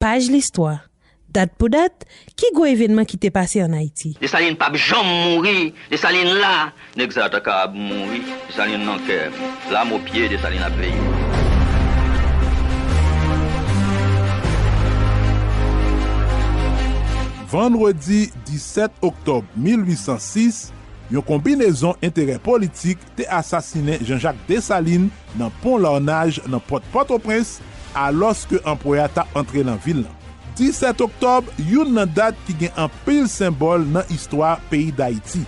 Paj listwa, Dat pou dat, ki gwo evenman ki te pase an Ayiti? Desalin pap janm mouri Desalin la Nèg sa ta kab mouri Desalin nan kè m Lam o pye Desalin ap veye m. Vandredi 17 oktòb 1806, yon konbinezon enterè politik te asasinen Janjak Desalin nan pon Larnaj nan pòt Pòtoprens alòske anprè a tap antre lan vil lan. 17 oktòb youn nan dat ki gen anpil senbòl nan istwa peyi Dayiti.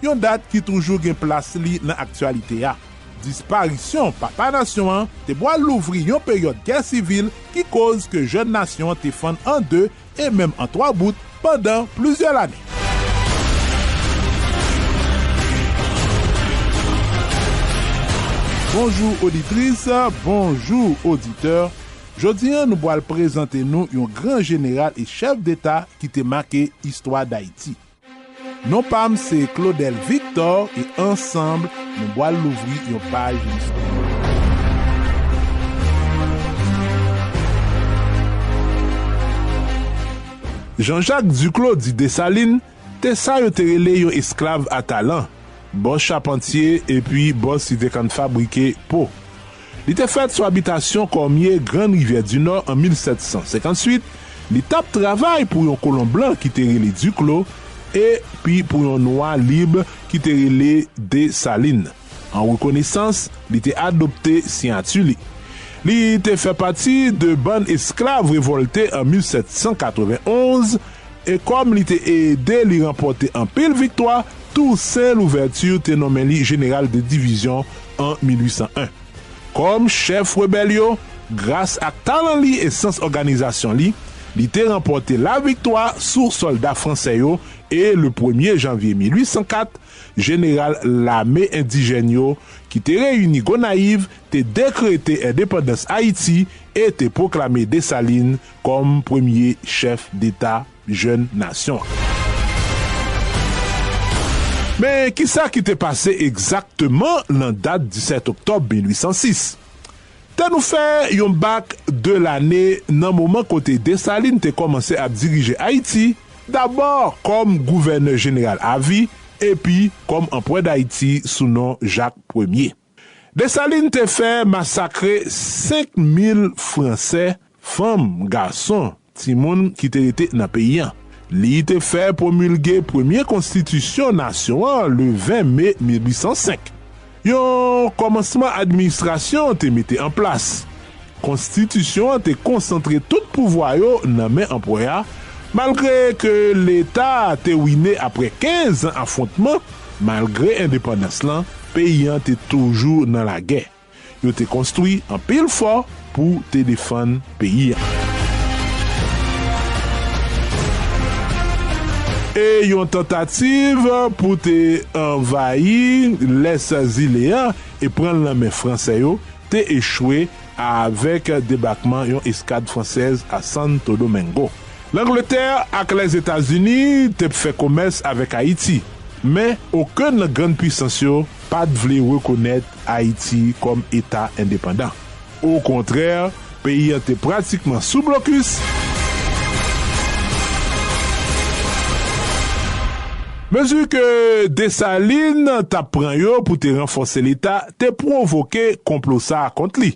Yon dat ki toujou gen plas li nan aktyalite a. Disparisyon papa nasyon an te bwal louvri yon peryòd gè sivil ki koz ke jèn nasyon an te fann an 2 e menm an twa bout pandan plizyè lane. Bonjou oditris, bonjou oditè, jodi an nou pwal prezante nou yon gran jeneral e chèf deta ki te make istwa Dayiti. Non pam se Claudel Victor e ansanm nou bwal louvri yon paj listwa. Jean Jacques Duclos di Dessalines te sa yo te rele yon esklav a talan, bò chapantye epi bò sidekann fabrike po. Li te fèt sou abitasyon Kòmye Grann Rivyè di Nò an 1758, li t ap travay pou yon kolon blan ki te rele Diklo e pi pou yon nwa lib ki te rele Desalin. An rekonesans, li te adopte siyati li. Li te fè pati de bann esklav revòlte an 1791 E kòm li te ede li ranpòte anpil viktwa, Toussaint Louverture te nonmen li jeneral de divizyon an 1801. Kòm chèf rebèl yo, gras ak talan li e sans òganizasyon li, li te ranpòte laviktwa sou sòlda fransè yo e, le premye janvye 1804, jeneral lame endijèn yo ki te reyini Gonayiv te dekrete endepandans Ayiti e te pwoklame Dessalines kòm premye chèf deta jèn nasyon an. Men, ki sa ki te pase egzakteman nan dat 17 oktòb 1806? Tè nou fè yon bak de lane nan moman kote Desalin te kòmanse ap dirije Ayiti, dabò kòm gouvènè jeneral avi epi kòm anpwè Dayiti sou non Jak Premye. Desalin te fè masakre 5 mil Franse, fanm, gason, timoun ki te rete nan peyi an. Li te fè pwomilge premye konstitisyon nasyon an le 20 me 1805. Yon kòmansman administrasyon te mete an plas. Konstitisyon an te konsantre tout pouvwa yo nan men anpwè a, malgre ke leta a te wine apre 15 an afwontman, malgre endepandans lan, peyi an te toujou nan lagè. Yo te konstwi anpil fò pou te defann peyi an. E yon tantativ pou te anvayi lès zile an e pran l nan men Fransè yo, te echwe a avèk debakman yon eskad fransèz a Santo Domingo. Langletè ak Lèzetazini te p fè komès avèk Ayiti, men okenn nan grann puisans yo pa t vle rekonèt Ayiti kòm eta endepandan. Okontrè, Peyi an te pratikman sou blokis. Mezi ke Desalin t ap pran yo pou te ranfòse Leta te pwovoke konplo sa a kont li.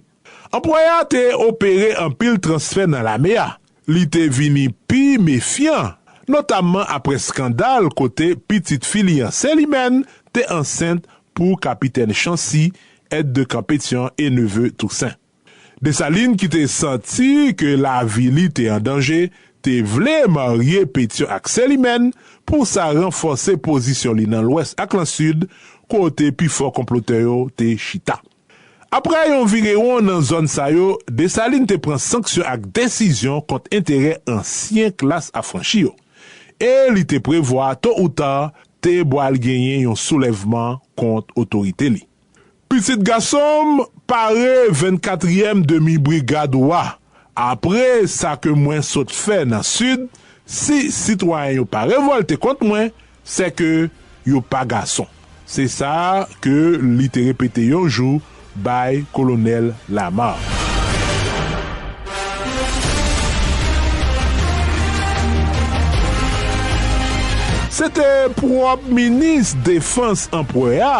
Anplwayè a te opere anpil transfè nan lame a. Li te vini pi mefyan, notamman apre skandal kote pitit fi li an, Célimène, te ansent pou Kapitèn Chancy, Aide de camp Pétion et neveu Toussaint. Desalin ki te santi ke lavi li te an danje, te vle marye Petyon ak Selimèn pou sa ranfòse pozisyon li nan lwès ak lan sid kote pi fò konplotè yo te chita. Apre yon virewon nan zòn sa yo, Desalin te pran sanksyon ak desizyon kont enterè ansyen klas afranchi yo. E li te prevwa to ou ta te bwal genyen yon soulèvman kont otorite li. Pitit gason m, pare vennkatriyèm demi brigad ou a. Apre sa ke mwen sot fè nan Sid, si sitwayen yo pa revòlte kont mwen, sè ke yo pa gason. Se sa ke li te repete yon jou bay Kolonèl Lamar. Se te pwòp minis defans anpwè a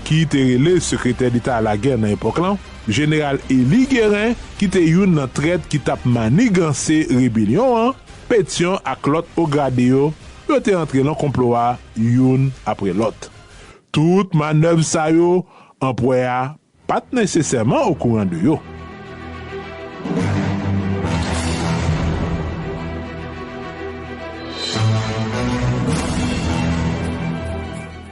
ki te rele Sekretè Deta Lagè nan epòk lan, Jeneral Eli Geren, ki te youn nan trèt ki t ap maniganse rebelyon an, Petyon ak lòt ograde yo, yo te antre lan konplo a youn apre lòt. Tout manèv sa yo, anpwè a pa t nesesèman okouran de yo.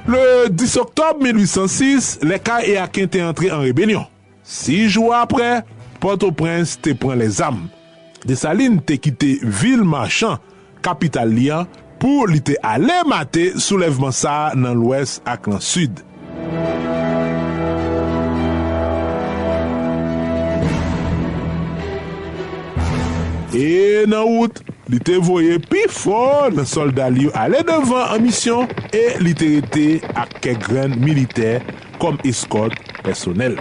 Le 10 oktòb 1806, lè Kay e Aken te antre an rebelyon. Si jou apre, Pòtoprens te pran lèzam. Desalin te kite vil machan, kapital li an, pou li te ale mate soulèvman sa a nan lwès ak nan sid. E nan wout, li te voye pi fò nan sòlda l yo ale devan an misyon e li te rete ak kèk grenn militè kòm eskòt pèsonèl.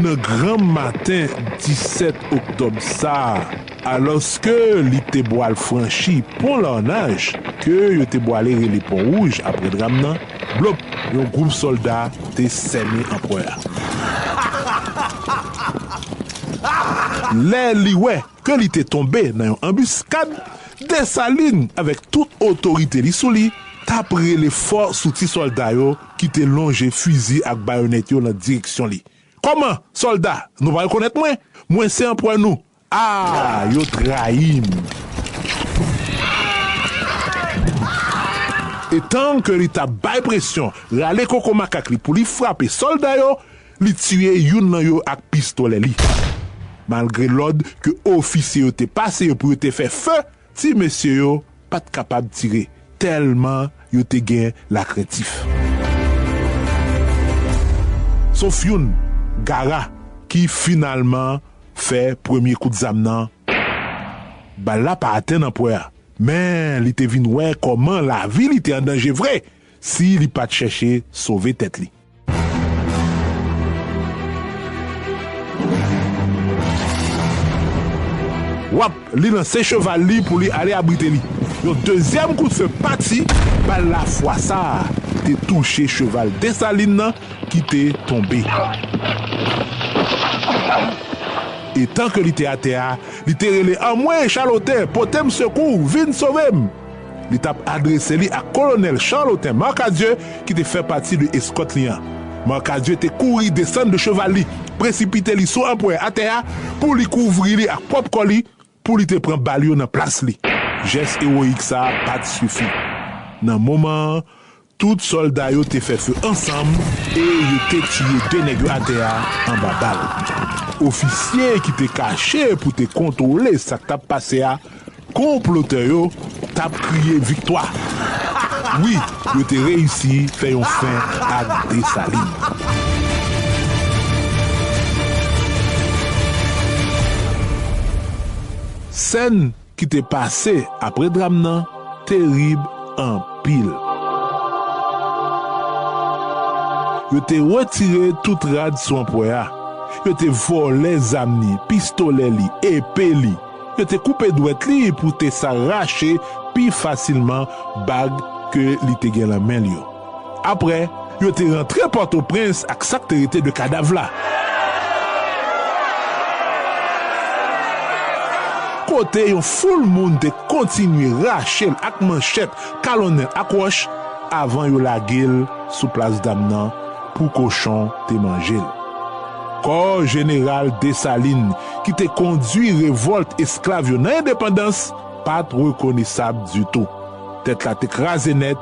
Nan granm maten 17 oktòb sa a, Alòske li te bwal franchi pon Larnaj, ke yo te bwale rele Pon Wouj apre dram nan, blop! yon gwoup sòlda te sènen anprè a. Lè li wè ke li te tonbe nan yon anbiskad, Desalin avèk tout otorite li sou li t ap rele fò sou ti sòlda yo ki te lonje fizi ak bayonèt yo nan direksyon li, Kòman, sòlda, nou pa rekonèt mwen? Mwen se anprè nou, Aah yo trayim. Etan ke li tap bay presyon, rale koko makak li pou li frape sòlda yo, li tiye youn lan yo ak pistolè li. Malgre lòd ke ofisye yo te pase yo pou yo te fè few, Ti mesye yo pa t kapab tire tèlman yo te gen lakrentif. Sof youn, Gara, ki finalman fè premye kout zam nan. Bal la pa atenn anpwè a, men li te vin wè kòman lavi li te an danje vre si li pa t chèche sove tèt li. Wap, li lanse cheval li pou li ale abrite li. Yon dezyèm kout fe pati, bal la fwa sa a te touche cheval Desalin nan ki te tonbe. Etan ke li te atè a, li te rele Anmwee Chaloten, pote m sekou, vin sove m! Li t ap adrese li ak Kolonèl Charlotin Marcadieu ki te fè pati de eskòt li an. Marcadieu te kouri desann de cheval li, presipite li sou anpwè atè a pou li kouvri li ak pwòp kò li pou li te pran bal yo nan plas li. Jès ewoyik sa a pa t sifi. Nan moman an, Tout sòlda yo te fè feu ansanm e yo te tiye 2 nèg yo atè a anba bal. Ofisye ki te kache pou te kontwole sa k t ap pase a, konplotè yo t ap kriye viktwa. Wi, yo te reyisi fè yon fen ak Desalin. Sèn ki te pase apre dram nan terib anpil. Yo te retire tout rad sou anpwè a, yo te vòlè zam ni, pistolè li, epe li, yo te koupe dwèt li pou te sa rache pi fasilman bag ke li te gen lan men l yo. Apre, yo te rantre Pòtoprens ak sa k te rete de kadav la. Kote yon foul moun te kontinye rache l ak manchèt, kalonnen l ak wòch avan yo lage l sou Plas Dam nan pou kochon te manje l. Kò Jeneral Desalin ki te kondui revòlt esklav yo nan endepandans pa t rekonesab ditou. Tèt la te kraze nèt.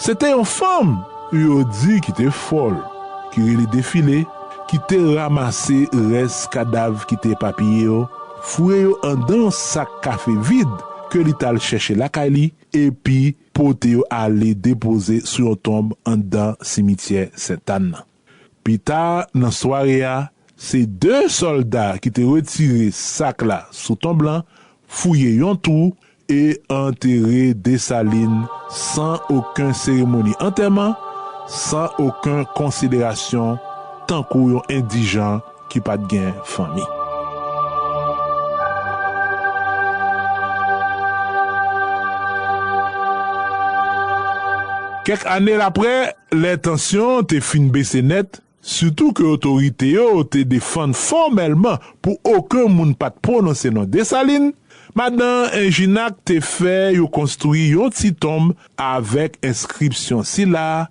Se te yon fanm yo di ki te fòl, ki rele Defile, ki te ramase rès kadav ki te epapiye yo, foure yo andan yon sak kafe vid ke li t al chèche lakay li, epi pote yo ale depoze sou yon tonb andan simityè Sentàn nan. Pi ta nan sware a, se 2 sòlda ki te retire sak la sou tonb lan, fouye yon twou e antere Desalin san oken seremoni antèman, san oken konsiderasyon tankou yon endijan. ki pa t gen fanmi. Kèk ane apre, lè tansyon te fin bese nèt, sitou ke otorite yo te defann fòmèlman pou oken moun pa t pwononse non Desalin, Madan Enjinac te fè yo konstwi yon ti tonb avèk enskripsyon sila,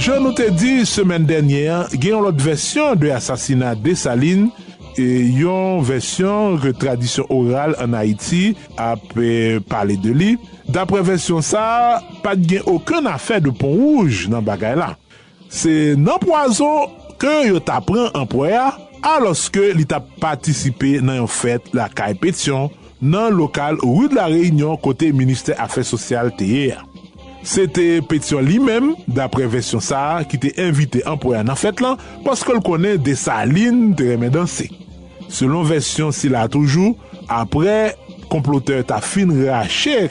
Jan nou te di semèn dènye an, gen yon lòt vèsyon de asasina Desalin, yon vèsyon ke tradisyon oral ann Ayiti ap pale de li. Daprè vèsyon sa a, pa t gen okenn afè de pon wouj nan bagay la. Se nan pwazon ke yo ta pran anpwè a, alòske li t ap patisipe nan yon fèt lakay Petyon. nan lokal Rue de la Réunion kote ministè afè sosyal te ye a. Se te Pétion li menm, daprè vèsyon sa a, ki te envite anpwè a nan fèt lan paske l konnen Dessalines te renmen danse. Selon vèsyon sila toujou, aprè konplotè ta fin rache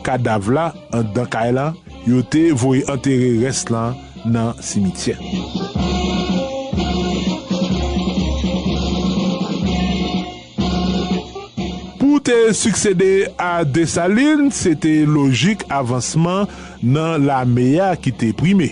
kadav la anndan kay la, yo te voye antere rès la nan simityè. Pou te siksede a Desalin, se te lojik avansman nan lame a ki te prime.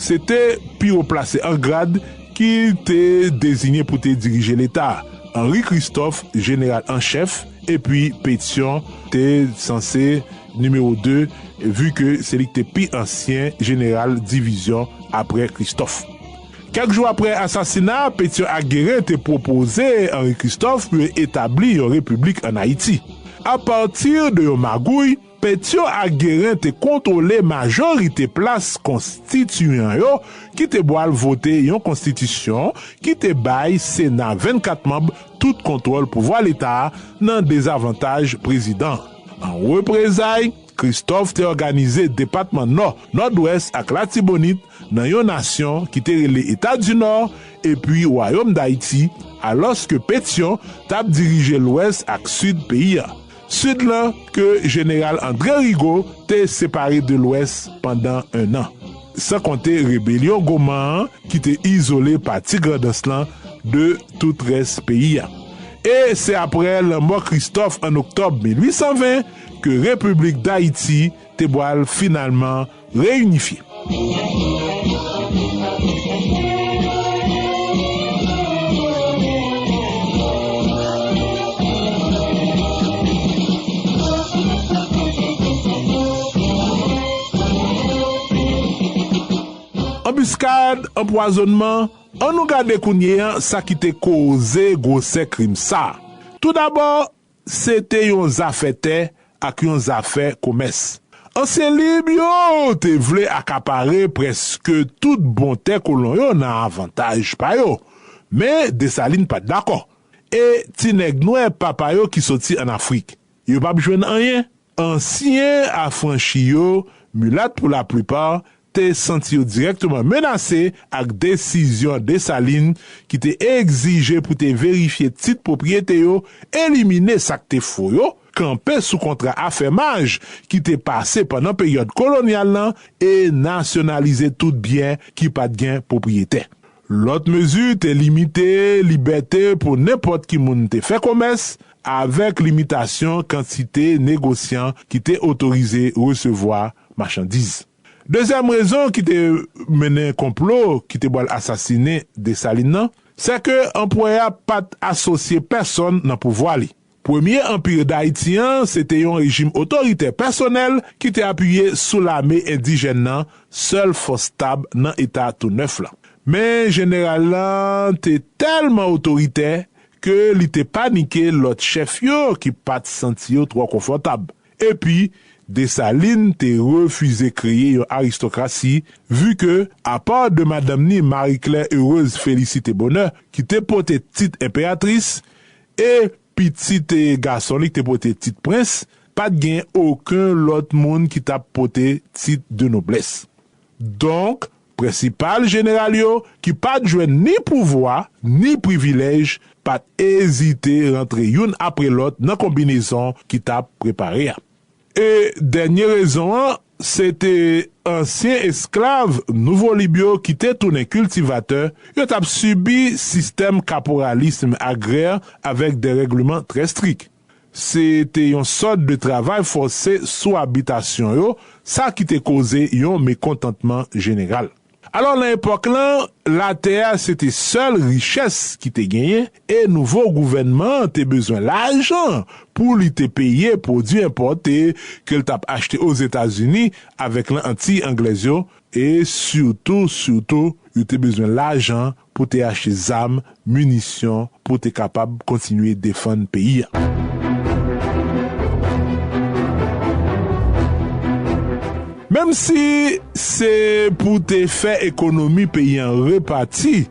Se te pi wo plase an grad ki te deziyen pou te dirije Leta, Henri Christophe, jeneral an chèf, Epi Petyon te sanse nimewo 2 vu ke se li ki te pi ansyen jeneral divizyon apre Kristòf. Kèk jou apre asasina Petyon ak Geren te pwopoze Anri Kristòf pou yo etabli yon repiblik an Ayiti. Apati de yon magouy, Pétion ak Guérin te kontwole majorite plas konstitiyan yo ki te bwal vote yon konstitisyon ki te bay Sena 24 manb tout kontwòl pouvwa Leta a nan dezavantaj prezidan an. An reprezay, Christophe te òganize depatman Nò, Nòdwès ak Latibonit nan yon nasyon ki te rele Eta di Nò epi Wayom Dayiti, alòske Pétion t ap dirije Lwès ak Sid peyi a. Sid lan ke Jeneral André Rigaud te separe de Lwès pandan ennan. San konte rebelyon Goman an ki te izole pati Grandans lan de tout rès peyi a. E se apre lanmò Kristòf an Oktòb 1820 ke Repiblik Dayiti te bwal finalman Reyinifye. Anbiskad, anpwazonnman, an nou gade kounye an sa ki te koze gwosè krim sa. Toudabò, Se te yon zafè tè ak yon zafè komès. Ansyen lib yo te vle akapare prèske tout bon tè kolon yo nan avantaj pa yo. Men Desalin pa t dakò. E ti nèg nwè papa yo ki soti ann Afrik? Yo pap jwenn anyen? Ansyen afranchi yo, milat pou laplipa, te santi yo dirèkteman menase ak desizyon Desalin ki te egzije pou te verifye tit pwopriyete yo, elimine sa k te fo yo, kanpe sou kontra afèmaj ki te pase pandan peryòd kolonyal lan e nasyonalize tout byen ki pa t gen pwopriyetè. Lòt mezi te limite libète pou nenpòt ki moun te fè komès, avèk limitasyon kantite negosyan ki te otorize resevwa machandiz. Dezyèm rezon ki te mennen konplo ki te pral asasinen Desalin nan, sèke anpwè a pa t asosye pèsonn nan pouvwa li. Premye Anpir Dayiti an se te yon rejim otoritè pèsonèl ki te apiye sou lame endijèn nan, sèl fòs stab nan eta tou nèf lan. Men jeneral lan te tèlman otoritè ke li te panike lòt chèf yo ki pa t santi yo twò konfòtab. Epi, Desalin te refize kreye yon aristokrasi, vi ke, apa de madanm ni Marie-Claire Heureuse Félicité Bonheur ki te pote tit enperatris, E pitit gason li k te pote tit prens, pa t gen oken lòt moun ki t ap pote tit de noblès. Donk, prensipal jeneral yo, ki pa t jwenn ni pouvwa ni privilèj, pa t ezite rantre youn apre lòt nan konbinezon ki t ap prepare a. E dènye rezon an, se te ansyen esklav Nouvo Lib yo ki te tounen kiltivatè, yo t ap sibi sistèm kaporalism agrè avèk derègleman trè strik. Se te yon sòt de travay fòse sou abitasyon yo, sa ki te koze yon mekontantman jeneral. Alò nan epòk lan, latè a se te sèl richès ki te genyen e nouvo gouvènman an te bezwen lajan pou li te peye pwodui enpòte ke l t ap achte Ozetazini avèk nan Antiy Anglèz yo e sitou sitou yo te bezwen lajan pou te achte zam, minisyon pou te kapab kontinye defann peyi a. Menm si se pou te fè ekonomi peyi an repati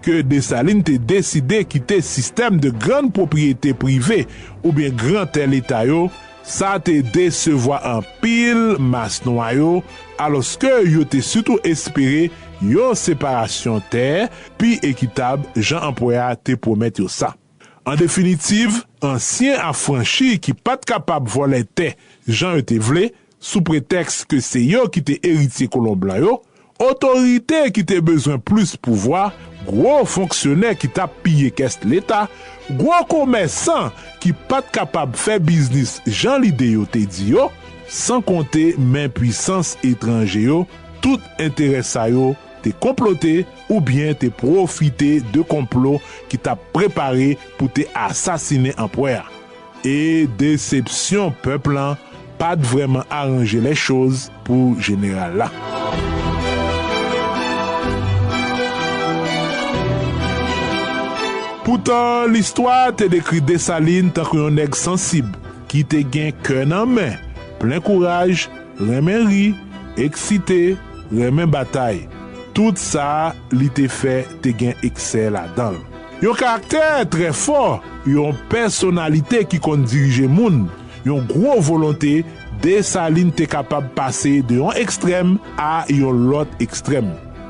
ke Desalin te deside kite sistèm de grann pwopriyete prive oubyen gran tè leta yo Sa te desevwa anpil mas nwa yo alòske yo te sitou espere yon separasyon tè pi ekitab jan anpwè a te pwomèt yo sa. An definitiv, ansyen afranchi ki pa t kapab vòlè tè jan yo te vle, sou pretèks ke se yo ki te eritye kolon blan yo, Otorite ki te bezwen plis pouvwa, gwo fonksyonè ki t ap piye kès Leta, gwo komèsan ki pa t kapab fè biznis jan lide yo te di yo, san konte men pwisans etranje yo, tout enterè sa yo te konplote oubyen te pwofite de konplo ki t ap prepare pou te asasinen anpwè a. E desepsyon pèp lan pa t vrèman aranje lèchoz pou jeneral la. Poutan, listwa te dekri Desalin tankou yon nèg sansib ki te gen kè nan men, plen kouraj, renmen ri, eksite, renmen batay. Tout sa li te fè te gen eksè ladan l. Yon karaktè trè fò, yon pèsonalite ki konn dirije moun, yon gwo volonte, Desalin te kapab pase de yon ekstrèm a yon lòt ekstrèm.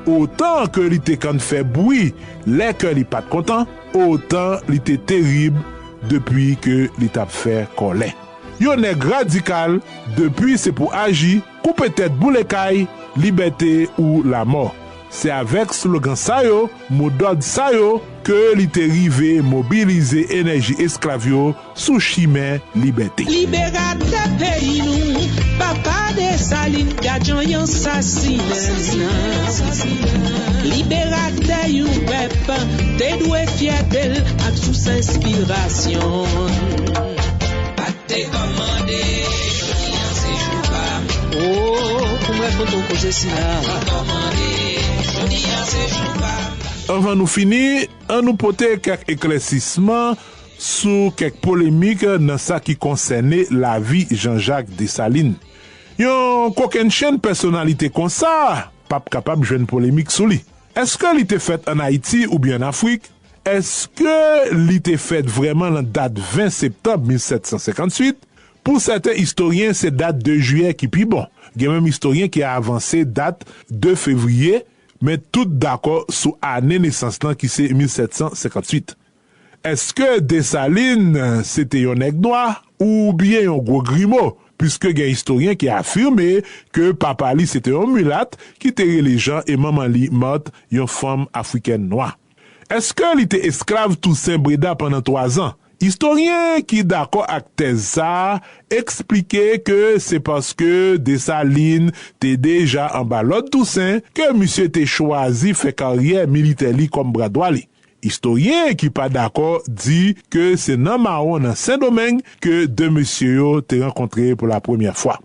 Otan ke li te kann fè bwi lè kè li pa t kontan, otan li te terib depi ke li t ap fè kòlè. Yon nèg radikal depi se pou aji, Koupe tèt boule kay, libète ou lamò. Se avèk slogan sa yo, mo dòd sa yo ke li te rive mobilize enèji esklav yo sou chimen libète. Liberatè peyi nou, papa Desalin gad jan y ansasinen. Liberatè yon pèp te dwe fyète l ak sous enspirasyon l. Sa k te kòmande? Anvan nou fini, an nou pote kèk eklèsisman sou kèk polemik nan sa ki konsène lavi Janjak Desalin. Yon kokennchenn pèsonalite konsa pa p kapab jwenn polemik sou li. Èske li te fèt ann Ayiti oubyen ann Afrik? Èske li te fèt vrèman nan dat 20 septanm 1758? Pou sèten istoryen, se dat 2 jiyè ki pi bon. Gen menm istoryen ki avanse dat 2 fevriye, men tout dakò sou ane nesans lan ki se 1758. Èske Desalin se te yon nèg nwa oubyen yon gwo grimo, piske gen istoryen ki afime ke papa li se te yon milat ki te rele Jan e manman li Mart, yon fanm afrikèn nwa? Èske li te esklav Tousen Breda pandan twazan? Istoryen ki dakò ak tèz sa a eksplike ke se paske Desalin te deja anba lòd Tousen ke misye te chwazi fè karyè militè li kòm bra dwa li. Istoryen ki pa dakò di ke se nan mawon nan Sendomeng ke de mesye yo te rankontre pou lapremyè fwa.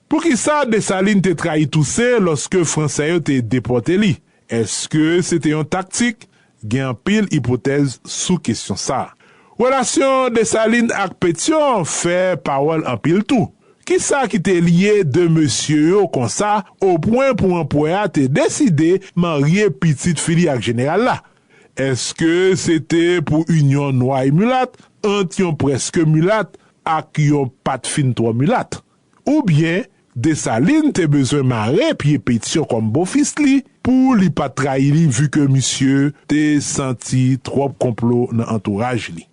Poukisa Desalin te trayi Tousen lòske Fransè yo te depòte li? Èske se te yon taktik? Gen anpil ipotèz sou kesyon sa a. Relasyon Desalin ak Petyon fè pawòl anpil tou. Kisa ki te lye de mesye yo konsa opwen pou anpwè a te deside marye pitit fi li ak jeneral la? Èske se te pou inyon nwa e milat ant yon prèske milat ak yon pa t fin twò milat? Oubyen Dessalines te bezwen mare pye Pétion kòm bofis li pou li pa trayi li vu ke misye te santi twòp konplo nan antouraj li.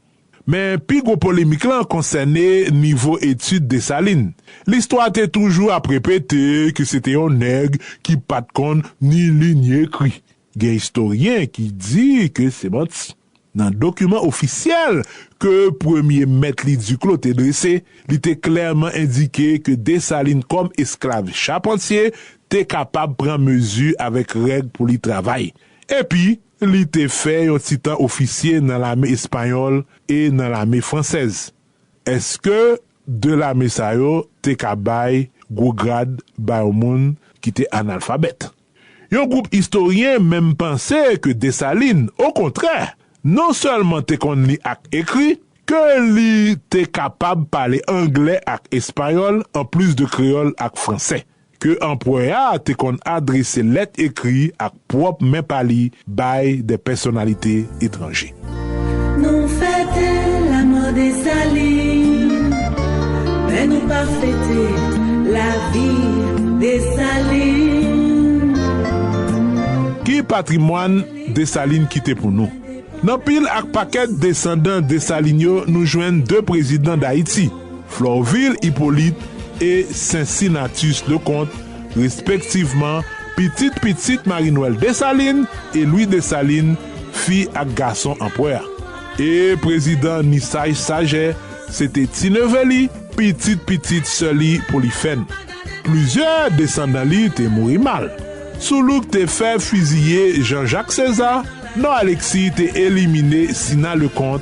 Men pi gwo polemik lan konsène nivo etid Dessalines. Listwa te toujou ap repete ke se te yon nèg ki pat konn ni li ni ekri. Gen istoryen ki di ke se manti. Nan dokiman ofisyèl ke premye mèt li Duclos te drese, li te klèman endike ke Dessalines kòm esklav chapantye te kapab pran mezi avèk règ pou li travay. Epi, li te fè yon ti tan ofisye nan lame espanyòl e nan lame fransèz. Èske de lame sa yo te ka bay gwo grad ba yon moun ki te analfabèt? Yon gwoup istoryen menm panse ke Desalin, okontrè, non sèlman te konn li ak ekri, ke li te kapab pale anglè ak espayòl anplis de kreyòl ak fransè, ke anpwè a te konn adrese lèt ekri ak pwòp men pa li bay de pèsonalite etranje. Nou fete lamò Desalin men nou pa fete lavi Desalin. Ki patrimwàn Desalin kite pou nou? Nan pil ak pakèt desandan Desalin yo nou jwenn 2 prezidan Dayiti, Florvil Hyppolite e Cincinnatus Leconte, respektivman pitit pitit Marie Noël Dessalines e Louis Dessalines, Fi ak gason anpwè a. E prezidan ni saj sajè se te ti neve li, pitit pitit sè li Polifèn. Plizyè desandan li te mouri mal. Soulouk te fè fiziye Jan Jak Seza, Nò Aleksi te elimine Sina Lekont,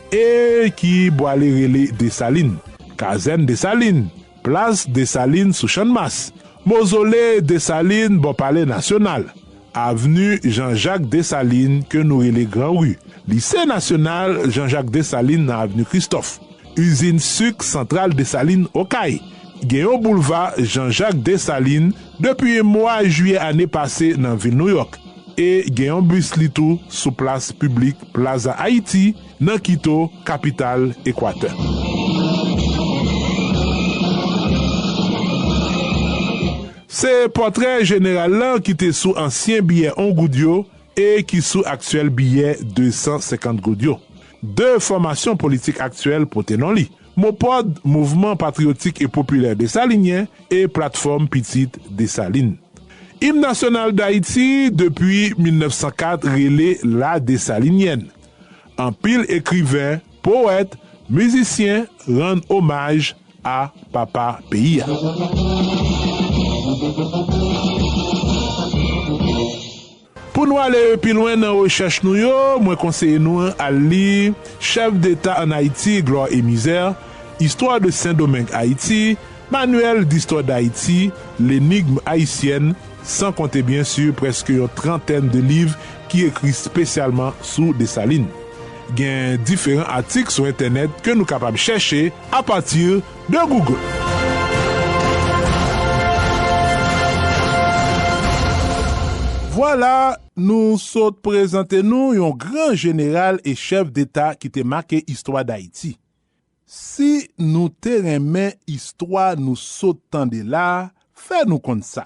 E ki bwale rele Desalin? Kazèn Desalin, plas Desalin sou Channmas, mozole Desalin bò palè nasyonal, avni Janjak Desalin ke nou rele Gran Ri, lise nasyonal Janjak Desalin nan avni Kristòf, izin suk Santral Desalin Okay, gen yon boulva Janjak Desalin depi mwa jiyè ane pase nan vil Nouyòk. e gen yon bis li tou sou plas piblik Plaza Haiti nan Quito, kapital Ekwatè. Se pòtrè jeneral lan ki te sou ansyen biyè on goud yo e ki sou aktyèl biyè 250 goud yo. De fòmasyon politik aktyèl pote non li. Mopod, Mouvman Patriyotik e Popilè Desalinyen, e Platfòm Pitit Desalin. Im nasyonal Dayiti depi 1904 rele La Desalinyèn. Anpil ekriven, powèt, mizisyen rann omaj a papa peyi a. Pou nou ale pi lwen nan rechèch nou yo, mwen konseye nou al li Chefs d'Etat en Haïti, Gloire et Misère, Histoire de Saint-Domingue-Haïti, Manuel d'Histoire d'Haïti, L'Énigme Haïtienne, san konte byen sur prèske yon trantèn de liv ki ekri spesyalman sou Dessalines. Gen diferan atik sou entènèt ke nou kapab chèche a partir de Google. Vwala, nou sot prezante nou yon gran jeneral e chèf deta ki te make istwa Dayiti. Si nou te renmen istwa nou sot tande la, fè nou konn sa.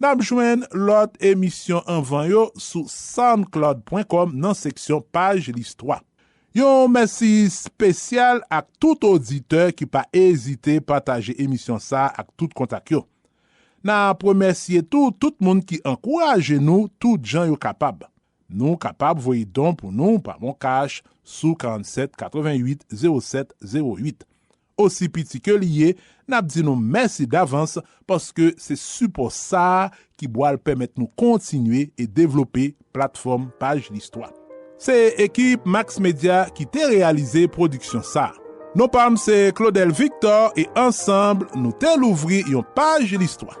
Nap jwenn lòt emisyon anvan yo sou soundcloud.com nan seksyon paj listwa. Yon mèsi spesyal ak tout oditè ki pa ezite pataje emisyon sa ak tout kontak yo. Nap remèsye tou tout moun ki ankouraje nou tout jan yo kapab. Nou kapab voye don pou nou pa moncash sou 47 88 07 08. Osi piti ke li ye, n ap di nou mèsi davans paske se sipò sa a ki bwal pèmèt nou kontinye e devlope platfòm Paj Listwa. Se ekip Max Media ki te reyalize pwodiksyon sa a. Non pa m se Claudel Victor e ansanm nou te louvri yon paj listwa.